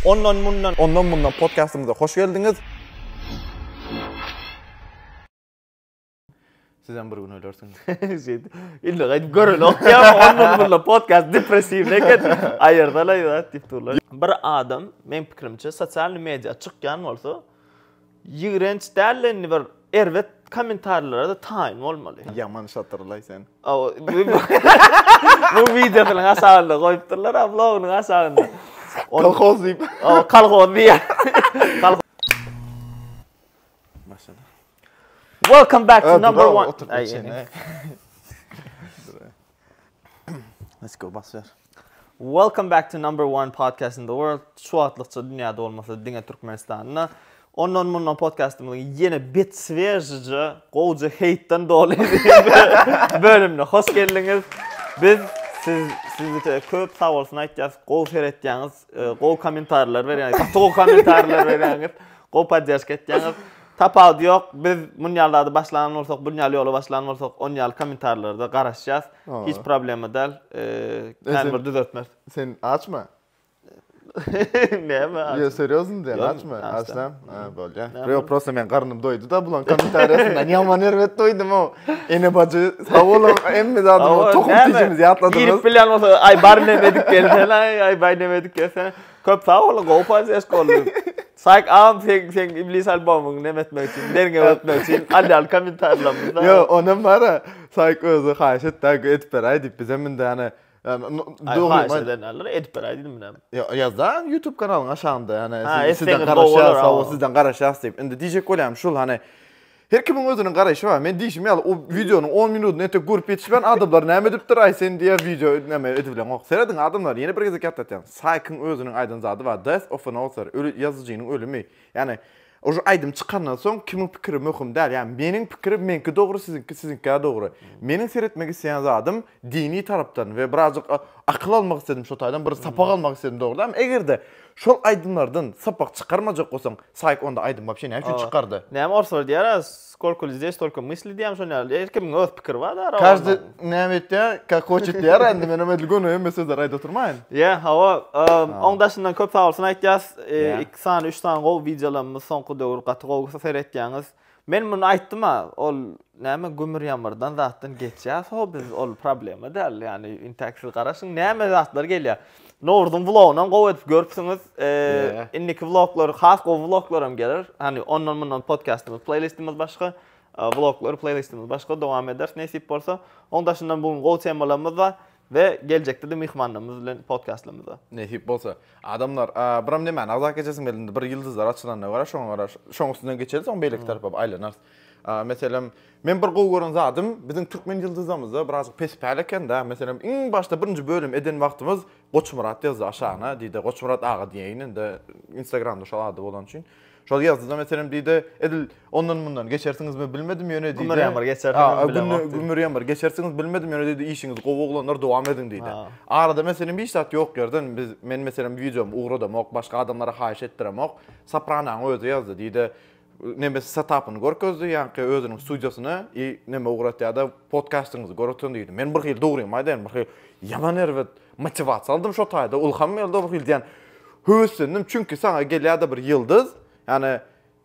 Ondan mundan Ondan mundan podkastymyza hoş geldiňiz. Sizem bir gün ölersiňiz. Şeýdi. Indi gaýdyp görelok ýa ondan mundan podkast depressiw eken. Aýyrdalaý zat diýip durlar. Bir adam men pikirimçe sosial media çykýan bolsa Ýigrenç dälde indi bir erbet komentarlarada taýyn bolmaly. Ýaman şatyrlaý sen. Bu wideonyň aşagynda goýupdyrlar a blogynyň aşagynda. Kolhoz diýip. Kolhoz diýýär. Maşallah. Welcome back to number one. Let's go basýar. Welcome back to number one podcast in the world. Şu wagtlykça dünýäde bolmasa diňe Türkmenistanda. Ondan mundan podcastymyzyň ýene bet svežije, gowja heýtden doly bölümine hoş geldiňiz. Biz siz sizde köp sag bolsun aýtýarys. Gowy seretýäňiz, e, gowy kommentarlar berýäňiz, gaty gowy kommentarlar berýäňiz, gowy podýaşka etýäňiz. Tapawudy ýok. Biz munýalda başlan bolsak, bunýal ýola başlan bolsak, onýal kommentarlarda garaşýas. Hiç problema däl. Kän bir düzeltmez. Sen açma. Näme? Ýa seriozny diýen açma. Açsam, ha bolýa. Ýa prosta men garnym doýdy da bulan kommentariýasyndan ýaman erbet doýdum o. Ene bajy sag boluň. Emmi zady o tohum tijimiz ýatladyňyz. Girip bilýän bolsa aý bar näme edip gelsen aý aý baý näme edip gelsen. Köp sag boluň gowy paýlaşyk boldy. Saýk agam seň seň iblis albomyňy neme etmek üçin, derňew etmek üçin alýan kommentariýalaryňda. Ýok, onam bar-a. Saýk özi haýyş etdi-ä, edip beräý diýip, bizem indi ýany Aý, haýyş eden alnyr, edip beräý diýdim menem. Ýok, ýaz-da YouTube kanalyň aşagynda, ýani sizden garaşýas, hawa, sizden garaşýas diýip. Indi diýjek bolýarym şul, hany Her kimiň özüniň garaýşy bar. Men diýşim ýaly o wideonyň on minutyny entek görüp ýetişmän adamlar näme edipdir aý sen diýýän wideo näme edibileňok. Serediň adamlar ýene bir gezek ýatlatýan Saýkyň özüniň aýdan zady bar Death of an author öli ýazyjynyň ölümi. Ýani oj aýdym çykandan soň kimiň pikiri möhüm däl. Ýani meniň pikirim meňki dogry siziňki siziňkä dogry. Meniň seretmek isleýän zadym dini tarapdan we birazjyk akyl almak isledim şo taýdan, bir sapak almak isledim dogrudanam. Eger-de şol aýdymlardan sapak çykarmajak bolsaň, Saýk onda aýdym wapşe näme üçin çykardy? Näme orslar diýer, Skolko lzde stolko mysli diýýämi şony ýaly. Her kimiň öz pikiri bar da. Każdy näme etýär, kak hoçet diýýär indi menem edil göni hemme sözleri aýdyp oturmaýyn. Ýa, hawa. Oň daşyndan köp sagbolsun aýtýas. Iki sany, üç sany gowy wideolarymyz soňky döwür gaty gowy seretýäňiz. Men muny aýtdym-a, ol näme gümür-ýamyrdan zatdan geçýäs-how biz, ol problema däl, ýagny intäk siz garaşyň näme zatlar gelýär. Nowruzyň wlogynam gowy edip görüpsiňiz, indiki wloglar has gowy wloglaram geler, hany ondan-mundan podkastymyz, pleýlistimiz başga, wloglar, pleýlistimiz başga dowam ederis nesip bolsa. Onuň daşyndan bu gün gowy temalarymyz bar. We geljekde-de myhmanlarymyz bilen podkastlarymyza. Nesip bolsa. Adamlar, biram nemäni agzap geçersiň weli indi bir ýyldyzlar açylanda gara, şoňa gara, şoň üstünden geçeris, soň beýleki tarapa aýlanarys. Meselem, men bir gowy gören zadym, biziň türkmen ýyldyzlarymyzda birazajyk pes-päl eken-dä. Meselem, iň başda birinji bölüm eden wagtymyz Goçmyrat ýazdy aşagyna, diýdi, Goçmyrat aga diýeýin indi, Instagramda şol ady bolany üçin. Şol ýazda-da meselem diýdi, edil ondan-mundan geçersiňizmi bilmedim ýöne diýdi. Gümür ýamyr geçersiňizmi bilemok diýdi. Gümür ýamyr geçersiňizmi bilmedim ýöne diýdi, işiňiz gowy oglanlar dowam ediň diýdi. Arada meselem hiç zat ýok ýerden, men meselem wideomy ugradamok, başga adamlara haýyş etdiremok, Soprananyň özi ýazdy diýdi, neme setapyny görkezdi, ýaňky özüniň studiýasyny i neme ugratýada podkastyňyzy görüpdim diýdi. Men birhili dogrymy aýdaýyn, birhili ýaman erbet. Motiwasiýa aldym şo taýda. Ylham geldi bir hili diýen. Höweslendim çünki saňa gelýärdi bir ýyldyz. Ýani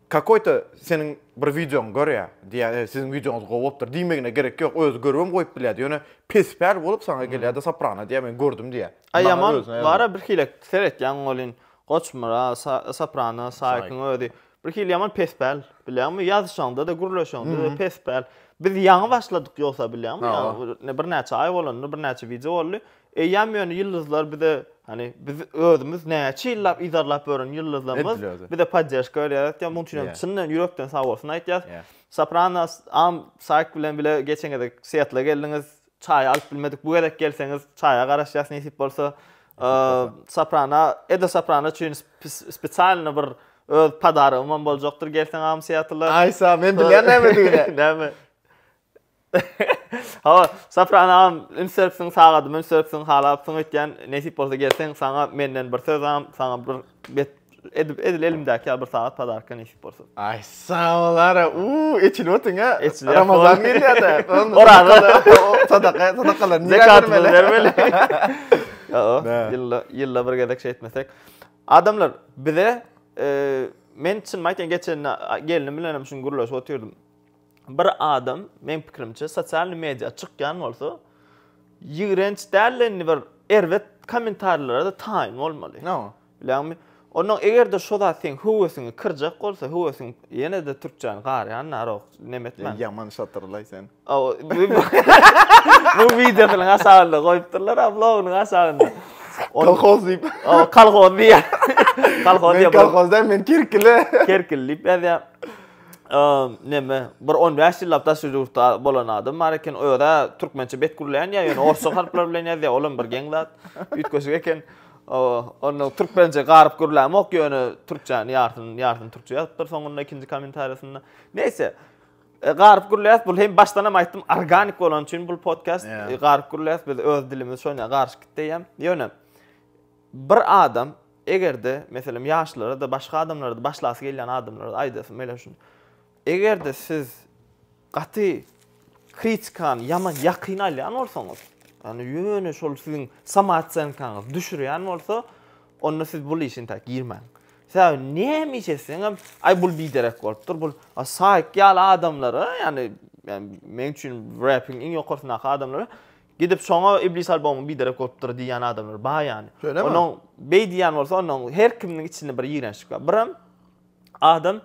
kakoýta seniň bir wideoňy görýär. Diýýär, e, siziň wideoňyz gowy bolupdyr. Diýmegine gerek ýok. Özi görübem goýup bilýärdi. Ýöne pespäl bolup saňa gelýärdi Soprano diýýär, men gördüm diýýär. A ýaman, bara bir hili seretýäň welin, Goçmyrat, Soprano, Saýkyň özi Bir hili ýaman pespäl, bilýäňmi? Ýazyşaňda-da, gürleşeňde-de pespäl. Biz ýaňy başladyk ýogsa, bilýäňmi? Ýa, birnäçe aý bolanda, birnäçe wideo boldy. Eýýäm ýöne ýyldyzlar bize, hany, biz özümiz näçe ýyllap yzarlap ýören ýyldyzlarymyz bize podderžka berýär. Aýtýan, munuň üçin hem çyndan ýürekden sagbolsun aýtýas. Sopranos, am, Saýk bilen bile geçen gezek Siettle geldiňiz. Çaýy alyp bilmedik bu gezek gelseňiz çaýa garaşýas nesip bolsa. Soprana, Edo Soprana üçin spesialny bir öz podarogym hem boljakdyr gelseň agam Seattle. Aý sag, men bilýän nämedigini. Näme? Hawa, Soprana agam ünsüpsiň sagadymy ünsüpsiň halapsyň öýtýän nesip bolsa gelseň saňa menden bir söz agam, saňa bir bet Edip edil elimdäki ýaly bir sagat podarka nesip bolsa. Aý sag bol ara. Uuu eçilip otyň ha. Eçilýär, Ramazan bol. gelýär-de. Oraza. Sadaka, sadakalar niýe Zekatymyzy bermeli. Ýa-o, Nä? ýylda, ýylda bir gezek şey etmesek. Adamlar, bize e, men çynymy aýtýan geçen gelnim bilen hem şuny gürleşip otyrdym. Bir adam, meň pikirimçe, sosial media çykýan bolsa, ýigrenç däl indi bir erbet kommentariýalara da taýyn bolmaly. No. Bilýäňmi? Onnoň eger-de şo zat seň höwesiňi kyrjak bolsa, höwesiň ýene-de türkçäni garýan narok nemetmän. Ýaman şatyrlaý sen. Bu wideosynyň hasabynda goýupdyrlar, a blogynyň hasabynda. Kolhoz diýip. Kolhoz diýýär. Kolhoz diýýär. Men kolhoz däl, men kerkili. Kerkili diýip ýazýar. Neme, bir 15 ýyllap daşary ýurtda bolan adam bar eken, öz-ä türkmençe bet gürleýän ýa ýöne orsça harplar bilen ýazýar, olam bir geň zat. Üýtgeşik eken. Oba, onda türkmençe garyp gürlämok, ýöne türkçäni ýarsyny, ýarsyny türkçe ýazypdyr soňunda ikinji kommentariýasynda. Neýse, e, garyp gürläýäs, bul hem başdanam aýtdym, organik bolany üçin bul podcast yeah. E, garyp gürläýäs, biz öz dilimiz şoňa garyşyp gitdi diýýän. Ýöne bir adam egerde, meselem, ýaşlara da, başga adamlara da başlasy gelýän adamlara aýdasy, meýle şun. Egerde siz Gaty kritikany ýaman ýakyn alýan bolsaňyz, ýagny ýöne şol siziň samoocenkaňyzy düşürýän bolsa, onda siz bul işe intäk girmäň. Sebäbi näme iş etseňem, aý bul biderek bolupdyr, bul Saýk ýaly adamlara, ýagny meň üçin repiň iň ýokarsyndaky adamlara gidip şoňa Iblis albomy biderek bolupdyr diýýän adamlar bar ýagny. Şöylemi? Onuň beý diýýän bolsa, onuň her kiminiň içinde bir ýigrençlik bar. Birem Adam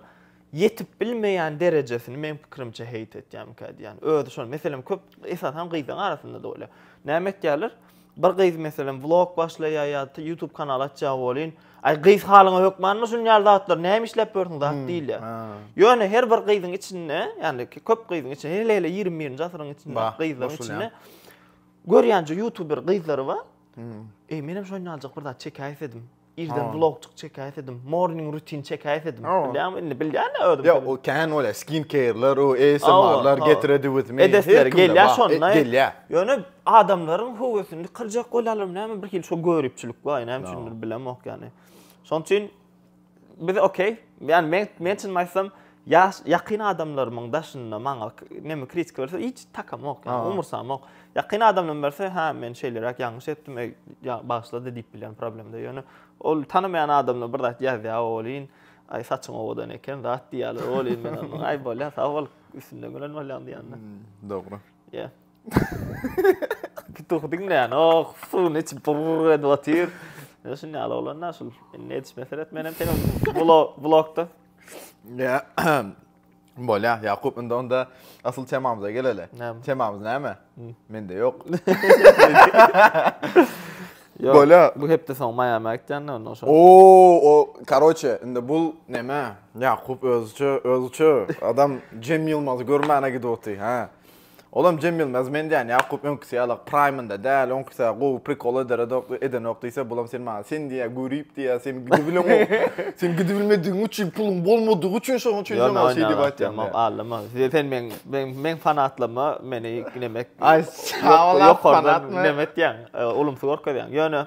ýetip bilmeýän derejesini meň pikirimçe heýt etýämikä diýýän. Özi şol. Meselem köp esasan gyzlaryň arasynda da bolýar. Näme etýärler? Bir gyz meselem vlog başlaýar ýa YouTube kanaly açýar bolýn. Aý gyz halyňa hökmanmy şun ýaly zatlar? Näme işläp ýörsüň zat diýilýär. Ýöne her bir gyzyň içinde, ýani köp gyzyň içinde, hele hele 21-nji asyryň içinde gyzlaryň içinde görýänje YouTuber gyzlary bar. Eý menem şoýnaljak bir zat çekäýsedim. Irden vlogçyk çekäýsedim, morning rutin çekäýsedim. Bilýäňmi indi, bilýän-ä özüm. Ýok, o kän bolýar, skin care-ler, o ASMR-ler, get ready with me. Edesleri gelýär şonda. Gelýär. Ýöne adamlaryň höwesini kyrjak bolýarlarmy näme, birhili şo göripçilik bar, näme üçindir bilemok ýani. Şonuň üçin biz okey, ýani men çyn aýtsam, Ýaş ýakyn adamlarymyň daşynda maňa näme kritika berse, hiç takamok, ýa umursamok. Ýakyn adamlarym berse, hä, men şeýleräk ýalňyş etdim, eý, bagyşla-da diýip bilýän problemde. Ýöne ol tanamaýan adamlar bir zat ýazýar welin, aý, saçyň owadan eken, zat diýýärler welin, men onuň, aý, bolýar, sag bol, üstünde gören bolýaň diýýän-de. Dogry. Ýa. Pituhy diňleýän, oh, suwuny içip burr edip otyr. Şuny ýaly bolanda, şul, indi edişme seret, men hem seniň blogda. Bolýa, Ýakup, indi onda asyl temamyza geleli. Temamyz näme? Mende ýok. Bolýa. Bu hepde soň Miami gitýänler onda şo. Oo, o, karoçe, indi bu näme? Ýakup özüçe, özüçe adam Cem Ýylmazy görmäne gidip otyr, ha. Olam Jemilnaz men diýän Ýakup öňküsi ýala praýmynda däl oňküsä gowy prikol ederedok edenok diýse bulam sen maňa sen diýä görip diýä sen gidibileňok sen gidibilmedigiň üçin puluň bolmadygy üçin şoň üçin sen maňa şeý diýip aýtýaň diýä. Ýok allama sen meň meň meň fanatlyma meni nemek ýokardan nemetýäň ulumsy görkezýäň ýöne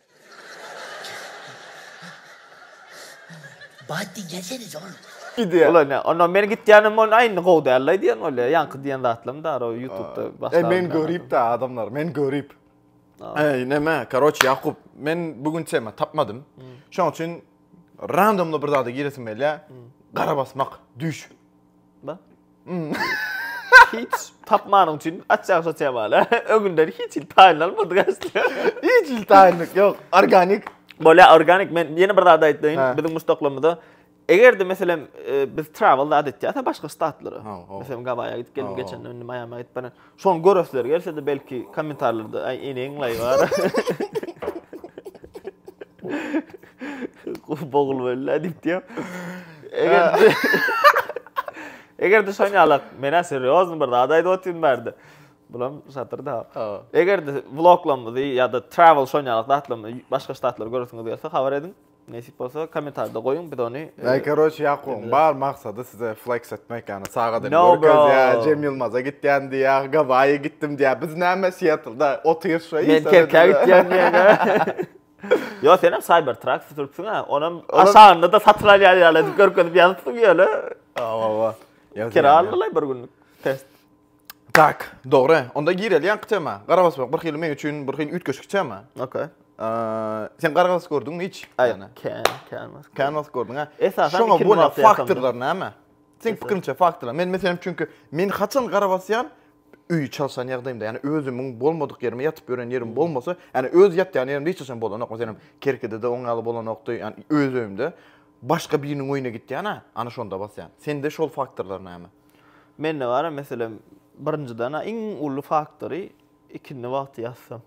Bat diýjäseniz oglum. Ola ne? Onda men gitýänim on aýny gowy däl la diýen bolýa. Ýaňky diýen zatlam bar o ýutubda başga. E men göripda adamlar, men görip. Eý neme, karoç Ýakup, men bu gün tema tapmadym. Şoň üçin randomly bir zada giresim gelýä. Gara basmak, düýş. Da. Hmm. hiç tapmanyň üçin açýan saçýan bala. Öňünden hiç hil taýyn almadyk aslında. hiç hil taýynlyk ýok. Organik. Bolä organik men ýene bir zat aýtdyň. Biziň muşdaklymyzda Eger de meselem e, biz travel zat etýäs başga ştatlara. Meselem Gawaýa gidip geldim geçen indi Miami gidip bana. Şony göresler gelse-de belki kommentarlarda aý eneň laý bar. Bogul bella diýip diýýär. Eger Eger de şony alak, mena seriozny bir zat aýdyp otyryn bärde. Bulam şatyr da. Eger de vloglamyzy ýa-da travel şony alak zatlamyzy başga ştatlar göresiňiz gelse habar ediň. Nesip bolsa komentarda goýuň biz ony. Näý e, karoç Ýakubyň bar maksady size flex etmek ýany saga edip görkezýär. Cem Ýylmaza gitýän diýýär, Gawaýa gitdim diýýär. Biz näme Seattlda otyr şoý. Men Kerkä gitýän diýýär. Ýok sen hem Cybertruck sürüpsiň ha. Onam aşagynda da satyn alýar ýaly edip görkezip ýazypsyň ýöne. Awa awa. Kira aldylar bir günlük test. Tak, dogry. Onda gireli ýaňky tema. Garabasmak bir hili men üçin bir hili üýtgeşik tema. Okey. Sen garabas gördüňmi hiç? Aýna. Kän, kän wagt. Kän wagt gördüň, hä? Esasan Şoňa bolan faktorlar näme? Sen pikiriňçe faktorlar. Men meselem çünki men haçan garabasýan öýi çalşan ýagdaýymda, ýani özümiň bolmadyk ýerime ýatyp ýören ýerim bolmasa, ýani öz ýatýan ýerimde hiç haçan bolanok. Meselem, Kerkidede oň ýaly bolanokdy, ýani öz öýümde. Başga biriniň öýüne gitýän-ä, ana şonda basýan. Sende şol faktorlar näme? Mende bar meselem birinjiden iň uly faktory ikindi wagty ýatsam.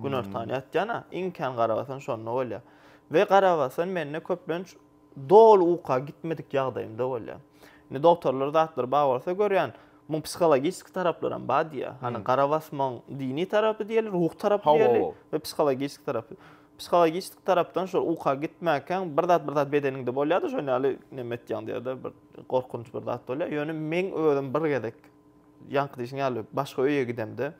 Günortan ýatýana iň kän garabasan şonda bolýar. We garabasan mende köplenç doly uka gitmedik ýagdaýymda bolýar. Indi dogtorlar zatlar bar bolsa görýän muň psihologiski taraplaram bar diýýär. Hany garabasmaň dini tarapy diýeli, ruhy tarapy diýeli we psihologiski tarapy. Psihologiski tarapdan şol uka gitmäkäň bir zat bir zat bedeniňde bolýada şon ýaly neme etýäň diýýada bir. Gorkunç bir zat bolýar. Ýöne meň özüm bir gezek ýaňky diýşiň ýaly başga öýe gidemde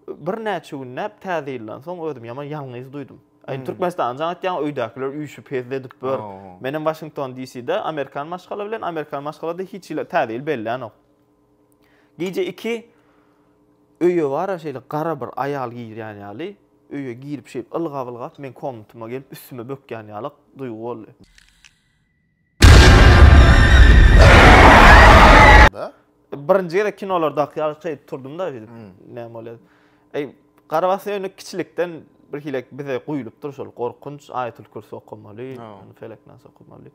birnäçe günläp täze ýyldan soň özüm ýaman ýalňyz duýdum. Aý hmm. Türkmenistanda jaň etýän öýdäkiler üýşüp hezil edip bör. Men hem Washington DC-de amerikan maşgala bilen amerikan maşgalada hiç ýyl täze ýyl bellänok. Gije 2 öýe bara şeýle gara bir aýal girýän ýaly öýe girip şeýle ylgap ylgap men komnatyma gelip üstüme bökýän ýaly duýgy boldy. Ýaşulyda. Birinji gezek kinolar daky ýaly şeýdip turdum da şeýdip hmm. näme bolýar. Eý, Garabas öýüne kiçilikden bir hile bize guýlupdyr şol gorkunç aýatul kürsi okamaly, ýani feleknas okamaly.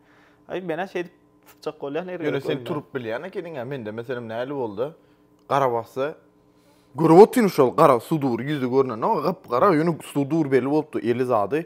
Eý, mena şeýdip tutjak bolýan ýeri. Ýöne sen turup bilýän ekeniň, mende meselem näli boldy? Garabasda görüp otyryn şol gara sudur ýüzi görnende, gap-gara ýöne sudur belli bolupdy, eli zady.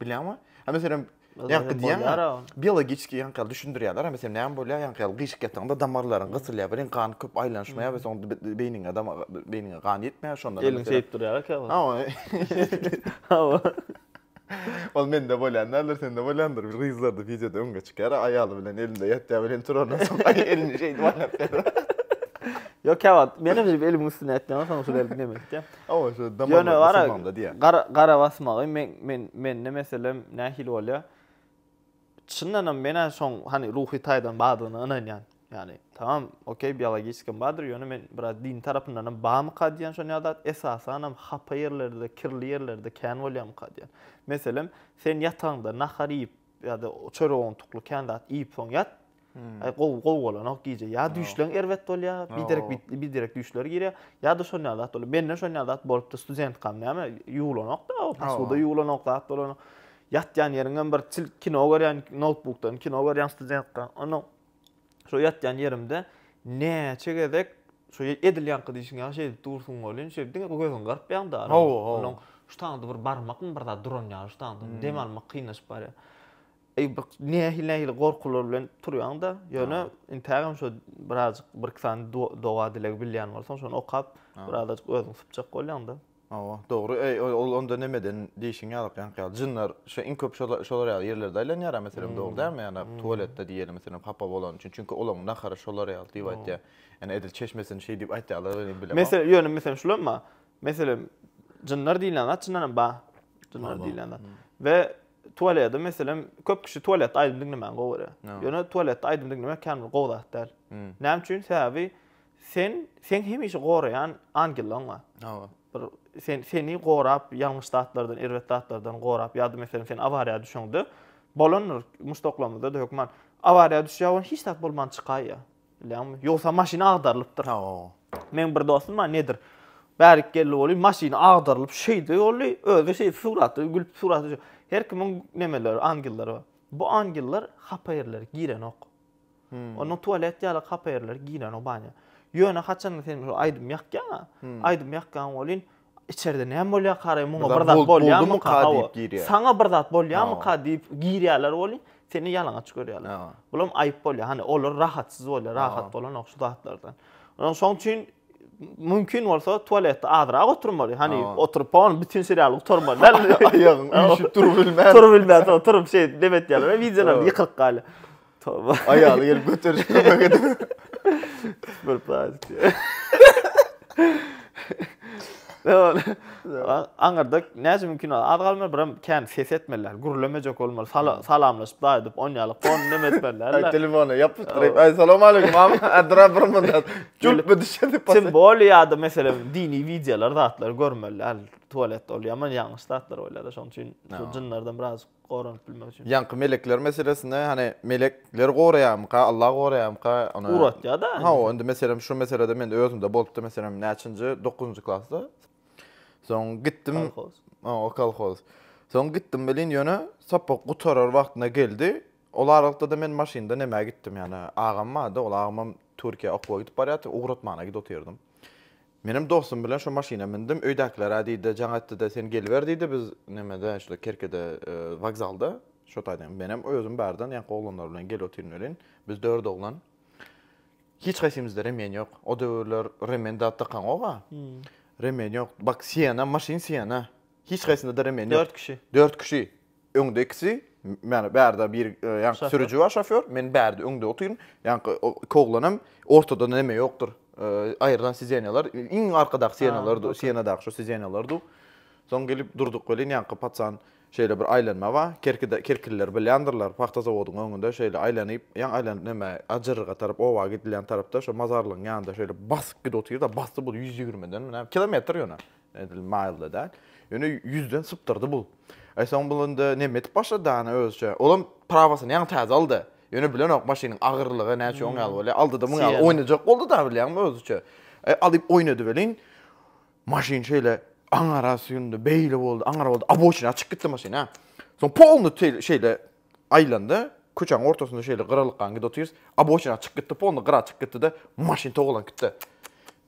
Bilýäňmi? Ha meselem, ýaňky diýen biologiki ýaňky düşündirýärler, ha meselem näme bolýar ýaňky ýaly gyşyk ýataňda damarlaryň gysylýar, bilen gan köp aýlanyşmaýar we soňra beýniňe dam beýniňe gan ýetmeýär, şonda eliň seýip durýar kä bu. Hawa. Ol mende bolýan däldir, sende bolýandyr. Bir gyzlarda wideoda öňe çykýar, aýaly bilen elinde ýatýar bilen turandan soň elini şeýdip aýlap berýär. Ýok, käwagt men hem elimiň üstüne ýatýan, soň şol elini näme edýär. Hawa, şu damarlary basylmagynda diýýär. Ýöne gara, gara basmagy men, men, mende meselem nähili bolýar? Çyndanam men-ä şoň hany ruhy taýdan bardygyna ynanýan. Ýagny, tamam, okey, biologiskam bardyr, ýöne men biraz dini tarapyndanam barmyka diýýän şon ýa zat, esasanam hapa ýerlerde, kirli ýerlerde kän bolýarmyka diýýän. Meselem, sen ýatagyňda nahar iýip, ýa-da çörek owuntukly kän zat iýip soň ýat. Aý gowy gowy bolanok gije. Ýa düýşleň erbet bolýar, biderek biderek düýşler girýär. Ýa-da şol ýaly zat bolýar. Menden şol ýaly zat bolupdy studentkam näme ýuwlanok-da, posuda ýuwlanok zat bolanok. Ýatýan ýeriňem bir çil kino görýän noutbukdan kino görýän studentka. Onda Şo ýatýan ýerimde näçe gezek şo edilýänki diýşiň ýaly şeýdip dursun welin, şeýdip diňe bir gözüňi gyrpýaň da. Hawa, hawa. Onuň şu taňda bir barmakmy bir zat duran ýaly şu taňda. Hmm. Dem almak kynlaşyp barýar. Eý bir nähili-nähili gorkular bilen turýaň da, ýöne intägem şo birazjyk bir iki sany doga dilegi bilýän bolsaň, şony okap, birazajyk özüňi sypjak bolýaň da. Hawa, dogry. Eý, ol onda nämeden diýşiň ýalyk ýaňky ýaly. Jynlar şu iň köp şola şolar ýaly ýerlerde aýlanýara meselem dogry dälmi? Ýa-da tualetde diýeli meselem hapa bolany üçin. Çünki olaň nahary şolar ýaly diýip aýtýar. Ýani edil çeşmesini şeý diýip aýtýarlar welin bilemok. Mesele, ýöne meselem şulam bar. Meselem jynlar diýilýän zat çyndan hem bar. Jynlar diýilýän zat. We tualede meselem köp kişi tualetde aýdym diňlemäni gowy görýär. Ýöne tualetde aýdym diňlemek kän bir gowy zat däl. Näme üçin? Sebäbi Sen seň hemişe goraýan angelleriň bar. Hawa. Bir sen seni gorap, ýalňyş zatlardan, erbet zatlardan gorap, ýa-da meselem sen awariýa düşeňde, bolandyr muşdaklarymyzda-da hökman awariýa düşýär we hiç zat bolman çykaýýar. Bilýäňmi? Ýogsa maşyn agdarylypdyr. Hawa. Meň bir dostum bar, nedir? Bärik geldi weli, maşyny agdarylyp şeýde boldy, özi şeýdip suratda gülüp surat düşüp. Her kimiň nemeleri, angellary bar. Bu angeller hapa ýerlere girenok. Onuň tualet ýaly hapa ýerleri giren o banýa. Ýöne haçanda sen şu aýdym ýakýaň-a, aýdym ýakýaň welin, içerde näme bolýar karaý, muňa bir zat bolýarmyka diýip girýär. Saňa bir zat bolýarmyka diýip girýärler welin, seni ýalaňaç görýärler. Bulam aýyp bolýar. Hany olar rahatsyz bolýar, rahat bolanok şu zatlardan. Şoň üçin mümkin bolsa tualetde azrak oturmaly. Hany oturyp hon bütin serialy gutarmaly. Aýagyň üýşüp durup bilmän. Durup bilmän, turup şeýdip neme etýärler, wideolar ýykylyk galýar. Toba. Aýaly gelip göterişip kömek edip. Super pratik diýär. Dewol. Aňyrda näçe mümkin ol az galmaly, biram kän ses etmeliler. Gürlemejek bolmaly. Sala, salamlaşyp daýy edip, on ýaly konu neme etmeliler. Aý telefona ýapyşdyryp, aý salam aleýkum, am, adra bir mydad. Çüp bir düşedi pas. Sen bol ýa-da meselem dini wideolar zatlar görmeliler. Tualet ol ýaman ýalňyş zatlar bolýar-da, şonuň üçin şu jynlardan biraz. goranyp bilmek üçin. Ýaňky melekler meselesinde hani melek ler goraýamyka Allah goraýamyka ony uratýada ha o indi meselem şu meselede men özümde bolupdy meselem näçinji dokuzynjy klasda soň gitdim ha o kolhoz soň gitdim welin ýöne sapak gutarar wagtyna geldi ol aralykda da men maşynda nämä gitdim ýani agam bardy ol agamam türkiýä okuwa gidip barýardy ugratmana gidip otyrdym Menem dostum bilen şo maşyna mündim, öýdäkiler-ä diýdi, jaň etdi-de, sen geliber diýdi, biz nämede, şuda Kerkede, wokzalda, şo taýdan menem özüm bardan ýaňky oglanlar bilen gel otyryn welin, biz dört oglan. Hiç haýsymyzda remen ýok. O döwürler remen zat dakanyok-a. Remen ýok. Bak, Siena, maşyn Siena. Hiç haýsynda-da remen ýok. Dört kişi. Dört kişi. Öňde ikisi, ýagny bärde bir ýaňky sürüji bar, şofýor, men bärde öňde otyryn. Ýaňky iki oglan hem ortada näme ýokdur. Aýrylan sidenýalar, iň arkadaky sidenýalardy, sienadaky şu sidenýalardy. Soň gelip durduk welin, ýaňky paçan şeýle bir aýlanma bar. Kerkide, kerkililer bilýändirler, pagta zawodyň öňünde şeýle aýlanyp, ýaňy aýlanyp näme, Ajyrga tarap, oba gidilýän tarapda, şo mazarlygyň ýanynda şeýle basyp gidip otyr-da, basdy bu ýüz ýigrimiden mi näme, kilometr ýöne, Edil maýyl-da däl. Ýöne ýüzden sypdyrdy bu. Aýsoň bul indi neme edip başlady dana özüçe. Olam prawasyny ýaňy täze aldy. Ýöne bilenok maşynyň agyrlygy näçe oň ýaly bolýar. Aldy-da muň ýaly oýnajak boldy-da bilýäňmi özüçe. Alyp oýnady welin, maşyn şeýle aňara süýndi, beýle boldy, aňara boldy, aboçina çykyp gitdi maşyn hä. Soň polny şeýle aýlandy, köçäň ortasynda şeýle gyra lykgan gidip otyrys, aboçina çykyp gitdi, polny gyra çykyp gitdi-de, maşyn togalanyp gitdi.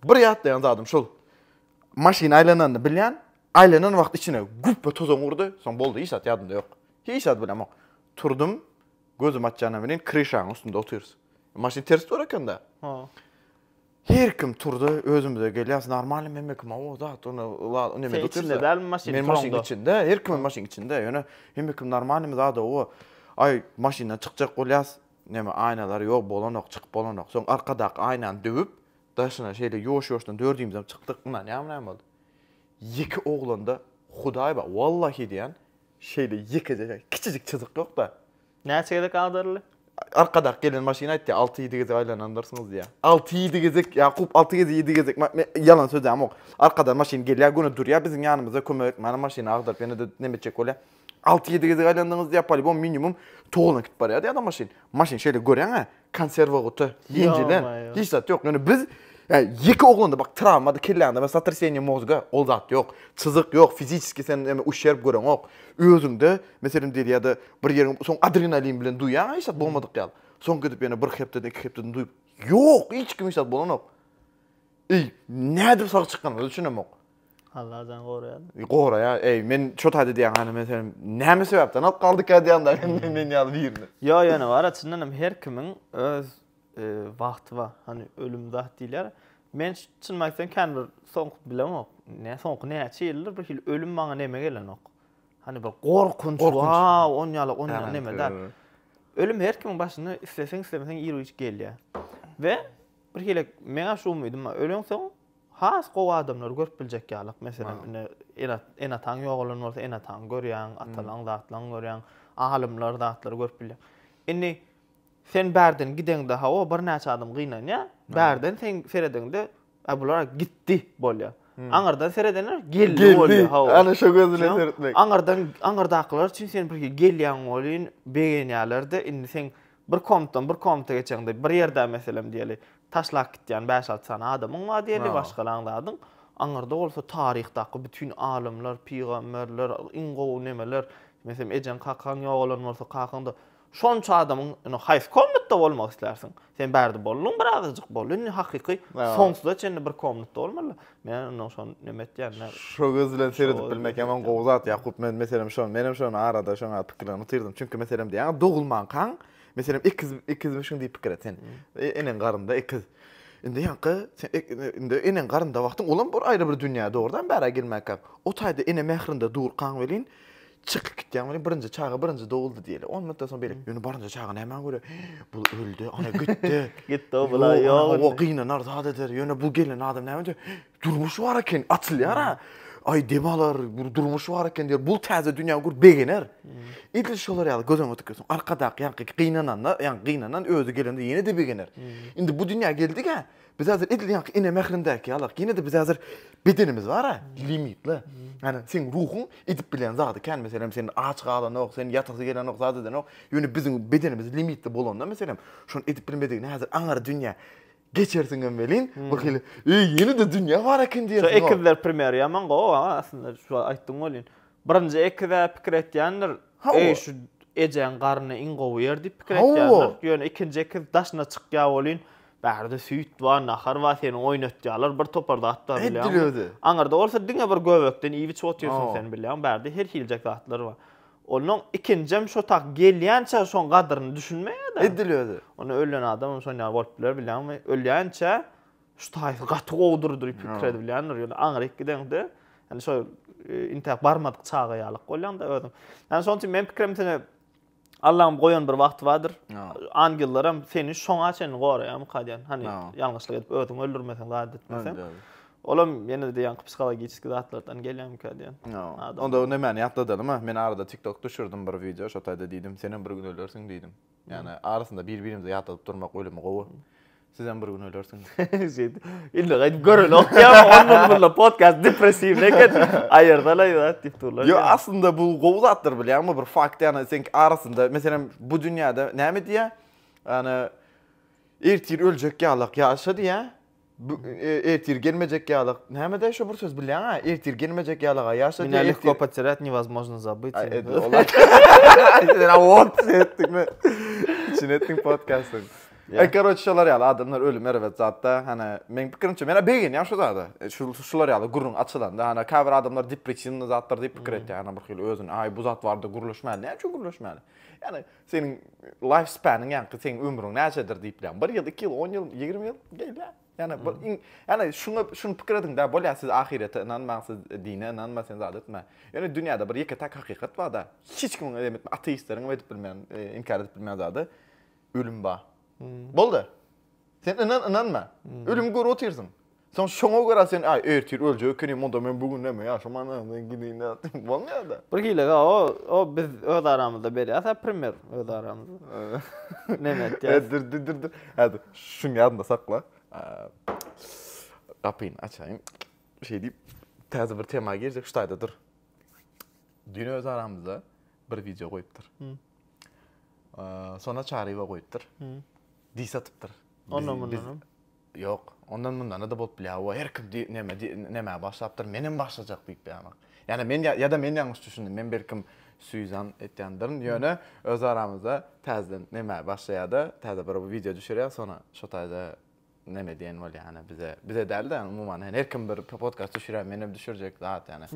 Bir ýatlaýan zadym şol. Maşyn aýlananyny bilýän, aýlanan wagty içine güpbe tozan urdy, soň boldy, hiç zat ýadymda ýok. Hiç zat bilemok. Turdum, gözümi açýana welin kryşaň üstünde otyrys. Maşyn ters dur eken-dä. Her kim turdy, özümize gelýäs, normalny hemme kim hawa zat, ony ýa nemede otyrys. Sen içinde dälmi maşynyň? Men maşynyň içinde, her kimiň maşynyň içinde, ýöne hemme kim normalnymy zat hawa. Aý, maşyndan çykjak bolýas, neme aýnalary ýok, bolanok, çykyp bolanok. Soň arkadaky aýnany döwüp, Daşyna şeýle ýuwaş-ýuwaşdan dördümizem çykdyk, ynanýarmy näme boldy? Ýeke oglanda Hudaý bar, wallahi diýýän, şeýle ýekeje ýa kiçijik çyzyk ýok-da. Näçe gezek agdaryldy? Arkadak gelen maşyn aýtdy, alty-ýedi gezek aýlanandyrsňyz diýýär. Alty-ýedi gezek, Ýakup, alty gezek, ýedi gezek, me, men ýalan sözlämok. Arkadan maşyn gelýär, göni durýar biziň ýanymyzda, kömek etmäne maşyny agdaryp ýene-de neme etjek bolýar. Alty-ýedi gezek aýlandyňyz diýýär, polibom minimum toglan gidip barýar diýýär-de maşyn. Maşyn şeýle görýäň-ä, konserwa guta, ýenjilen, Ýa-maýo. hiç zat ýok. Ýöne biz, ýa ýeke oglanda bak trawmady kelläňde we sotraseniýe mozga, ol zat ýok. Çyzyk ýok, fiziçeskiý sen näme uşşerb göreňok. Özüňde, meselem diýeli ýa-da bir ýeriňi soň adrenalin bilen duýýaň-a hiç zat bolmadyk ýaly. Soň gidip ýene bir hepdeden, iki hepdeden duýup, ýok, hiç kime hiç zat bolanok. Eý, nädip sag çykanyňyza düşünemok. Allah jan goraýar. Goraýar. Eý, men şo taýda diýýän hany men seni näme sebäpden alyp galdyk ýa diýýän da men men ýaly birini. Ýo, ýöne bar-a çyndan hem her kimiň öz e, wagty bar. Hany ölüm zat diýilýär. Men çyn aýtsam kän bir soňky bilemok. Ne soňky näçe ýyldyr bir hil ölüm maňa neme gelenok. Hany bir gorkunç, wow, on ýaly on ýaly neme da. Ölüm her kimiň başyna isleseň islemeseň ir gelýär. We bir hile meňä şu umydym bar. Öleň soň Has gowy adamlary görüp biljek ýalyk, meselem, indi ene-ataň ýogalan bolsa, ene-ataňy görýäň, atalaň zatlaryňy görýäň, alymlar, zatlary görüp bilýäň. Indi sen bärden gideňde, hawa, birnäçe adam gynanýar, bärden sen seredeňde, Ä, bular gitdi bolýar. Aňyrdan seredenler geldi bolýar, hawa. Geldi, ana şo göz bilen seretmek. Aňyrdan, aňyrdakylar üçin sen birki gelýäň welin begenýärler-de, indi sen Bir kompdan bir komta geçeňde bir ýerde meselem diýeli taşlap gitýän bäş-alty sany adamyň bar diýeli, maşgalaň zadyň. Aňyrda bolsa taryhdaky bütin alymlar, pygamberler, iň gowy nemeler, meselem ejeň, kakaň ýogalan bolsa, kakaň da şonça adamyň indi haýsy komnatda bolmak islärsiň? Sen bärde bolduň birazajyk bol, indi hakyky soňsuza çenli bir komnatda bolmaly. Men ondan şon neme etýän? Şo göz bilen seredip bilmek hem gowy zat Ýakup. Men meselem şon, men hem şon arada şoň pikirlerini utyrdym. Çünki meselem diýýän dogulmankaň, meselem ikiz ikizmişiň diýip pikir et sen. Eneň garynda ikiz. Indi ýaňky sen indi eneň garynda wagtyň olam bir aýry bir dünýä dogrudan bära gelmänkä. O taýda ene mährinde durkaň welin Çykyp gitýän welin birinji çaga birinji doguldy diýeli. On minutdan soň beýle. Ýöne barynja çaga nämä görä? Bu öldi, ana gitdi. Gitdi, o bula ýok. O gynanar, zat eder. Ýöne bu gelen adam näme diýer? Durmuş bar eken, açylýar-a. Aý, dem alar, bir durmuş bar eken diýer. Bu täze dünýä görüp begener. Edil şolar ýaly göz öňüňe tikilsin. Arkadaky ýaňky gynananda, ýaňky gynanan özi gelende ýene-de begener. Indi bu dünýä geldik-ä. Biz häzir edil ýaňky ene mährindäki ýalak, ýene-de biz häzir bedenimiz bar-a, limitli. Ýani seň ruhuň edip bilýän zady kän, meselem, sen aç galanok, sen ýatasy gelenok, zat edenok, ýöne biziň bedenimiz limitli bolanda, meselem, şony edip bilmedigini häzir aňyr dünýä geçersiňem welin, birhili, eý, ýene-de dünýä bar eken diýersiň-ow. Şu ekizler primery ýaman gowy, aslynda, şu aýtdygyň welin. Birinji ekiz-ä pikir etýändir, Eý, şu ejäň garny iň gowy ýer diýip pikir etýändir. Ýöne ikinji ekiz daşyna çykýar welin, bärde süýt bar, nahar bar, seni oýnatýarlar, bir topar zat bar bilýäňmi? Aňyrda bolsa diňe bir göbekden iýip-içip otyrsyň sen bilýäňmi, bärde her hiljek zatlar bar. Onnoň ikinjem şo tak gelýänçä şoň gadyryny düşünmeýär-dä. Onda ölen adamam şonýaly bolup biler bilýäňmi? Ölýänçä Şu taýsy gaty gowudyr diýip pikir edip bilýändir. Ýöne aňryk gideňde, ýani şol e, intäk barmadyk çaga ýalyk bolýaňda özüň. Ýani şonuň üçin meniň pikirim seni Allah'ım goýan bir wagty bardyr. Angellaram seni şoňa çenli goraýar mukadýan. Hani ýalňyşlyk edip özüňi öldürmeseň, zat etmeseň. Olam ýene de ýaňky psihologik zatlardan gelýär mukadýan. Onda nämäni ýatladalyma? Men arada TikTok düşürdim bir wideo, şo taýda diýdim, sen hem bir gün ölersiň diýdim. Ýagny arasynda bir-birimize ýatladyp durmak ölümi gowy. Sizem bir gün ölersiňiz. Şeýdi. Indi gaýdyp görelok diýýär. Onda bunda podcast depressiwne eken. Aýyrdalaý zat diýip durlar. Ýok, aslynda bu gowy zatdyr bilýärmi? Bir fakt ýa-da sen arasynda, meselem, bu dünýäde näme diýýär? Ýagny ertir öljek ýalyk ýaşa diýýär. Bu ertir gelmejek ýalak. Näme de şu bir söz bilýäň ha? Ertir gelmejek ýalaga ýaşa. Mine lehko poterät nevozmojno zabyt. Sen awot etdiňmi? Çin etdiň podkastyň. E karoç şolar ýaly adamlar ölüm erbet zatda. Hana men pikirimçe men begenýän şu zada. E, şu şular ýaly gürrüň açylanda hana kabir adamlar depressiwny zatlar diýip pikir etýär. Hana bir hili özüni ay bu zat barda gürleşmäli. Näme üçin gürleşmäli? Yani Seniň life span-yň ýaňky seň ömrüň näçedir diýipler. 1 ýyl, 2 ýyl, 10 ýyl, 20 ýyl gelýär. Ýani bir iň ýani şuňa şuny pikir ediň da bolýar siz ahirete ynanmaň siz dine ynanma sen zat etme. Ýöne dünýäde bir ýeke täk hakykat bar da hiç kimiň edem etme ateistleriňem edip bilmeýän inkär edip bilmeýän zady ölüm bar. Boldy. Sen ynan ynanma. Ölümi görüp otyrsyň. Soň şoňa görä sen, Aý, ertir öljek ekenim, onda men bu gün näme ýaşaman öýden gideýin-dä diýip bolmaýar-da. Bir hilege o biz öz aramyzda berýäs-ä primer öz aramyzda. Neme etýäs? Dur, dur, dur, dur. Häzir şuny ýadyňda sakla. Gapyny açaýyn. Şeý diýip, täze bir tema girjek, şu taýda dur. Düýn öz aramyzda bir wideo goýupdyr. Şonda Çaryýewa goýupdyr. Dis atypdyr. Ondan mundanam. Ýok, ondan mundana-da bolup bilýär, hawa, her kim di, neme, di, nämä başlapdyr, menem başlajak diýip ýaňak. Ýa-da men, ýa-da men ýalňyş düşündim, men belkim Sýuzan etýändirin, ýöne öz aramyzda täzeden nämä başlaýar-da, täze bir wideo düşürýär, soňra şo taýda neme diýen bolýar, ýani bize, bize däl-de, ýani umuman, ýani her kim bir podkast düşürýär, menem düşürjek zat, ýani.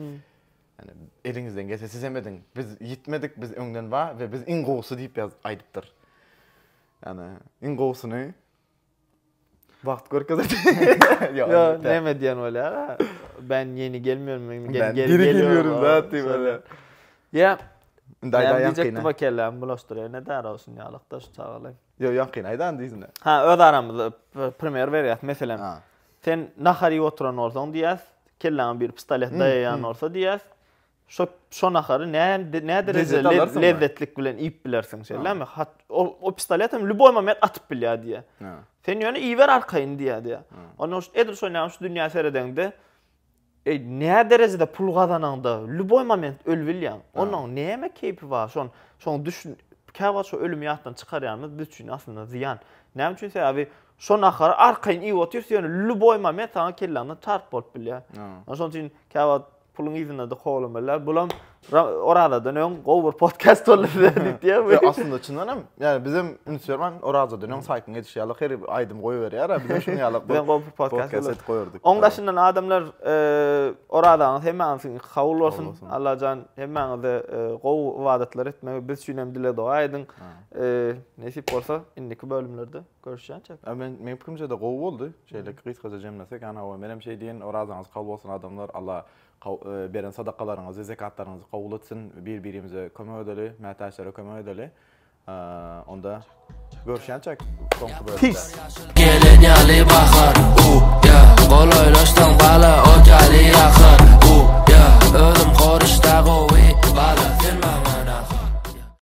Ýani eliňizden gelse sizem ediň, biz ýitmedik, biz öňden bar we biz iň gowusy diýip ýaz, aýdypdyr. Ýani iň gowusyny. Wagt görkezer. Ýa näme diýen bolýar? Ben ýeni gelmiyorum, men geri geliyorum zat diýip öle. Ýa Indi aýdaýan kine. Diýjekdi bu kellämi bulaşdyryp, ne däre olsun ýalykda şu çagalar. Ýo ýok kine aýdan diýsin. Ha öz aramyzda primer berýäs meselem. Sen nahar ýyp oturan bolsaň diýýäs, kelläňe bir pistolet daýaýan bolsa diýýäs. Şo şo nahary nä nä derejede lezzetlik bilen iýip bilersiň şeýlemi? Hat ol o pistolet hem ljuboý moment atyp bilýär diýýär. Sen ýöne iýiber arkaýyn diýýär diýýär. Onda şu edil şo näme şu dünýä seredeňde eý nä derejede pul gazanaňda ljuboý moment öl bilýäň. Onuň näme keýpi bar? Şon şoň düş käwagt şu ölümi ýatdan çykarýanymyz biz üçin aslynda zyýan. Näme üçin sebäbi şo nahary arkaýyn iýip otyrys ýöne ljuboý moment saňa kelläňden çarp bolup bilýär. Şonuň üçin käwagt puluň yzynda-da kowlamalylar. Bulam Orazadan öň gowy bir podcast boldy diýip diýýär. Ýa aslynda çyndan hem, ýani biz hem üns bermän Orazadan öň saýtyň edişi ýaly her aýdym goýberýär. Biz şuň ýaly bir gowy bir podcast goýardyk. Oň daşyndan adamlar Orazaňyz hemmäňiziň kabul bolsun. Allah jan hemmäňize gowy ybadatlar etmegi biz üçin hem dile doga ediň. Nesip bolsa indiki bölümlerde Görüşýänçäk. A men meň pikirimçede gowy boldy. Şeýle gysgaja jemlesek ýany hawa menem şeý diýen orazaňyz kabul bolsun adamlar Alla beren sadakalaryňyzy zekatlaryňyzy kabul etsin bir birimize kömek edeli mätäçlere kömek edeli onda görüşýänçäk soňky bölümde. Gelen ýaly bahar u ya golaýlaşsaň bala ot ýaly ýakar u ya özüm horuşda gowy bala sen maňa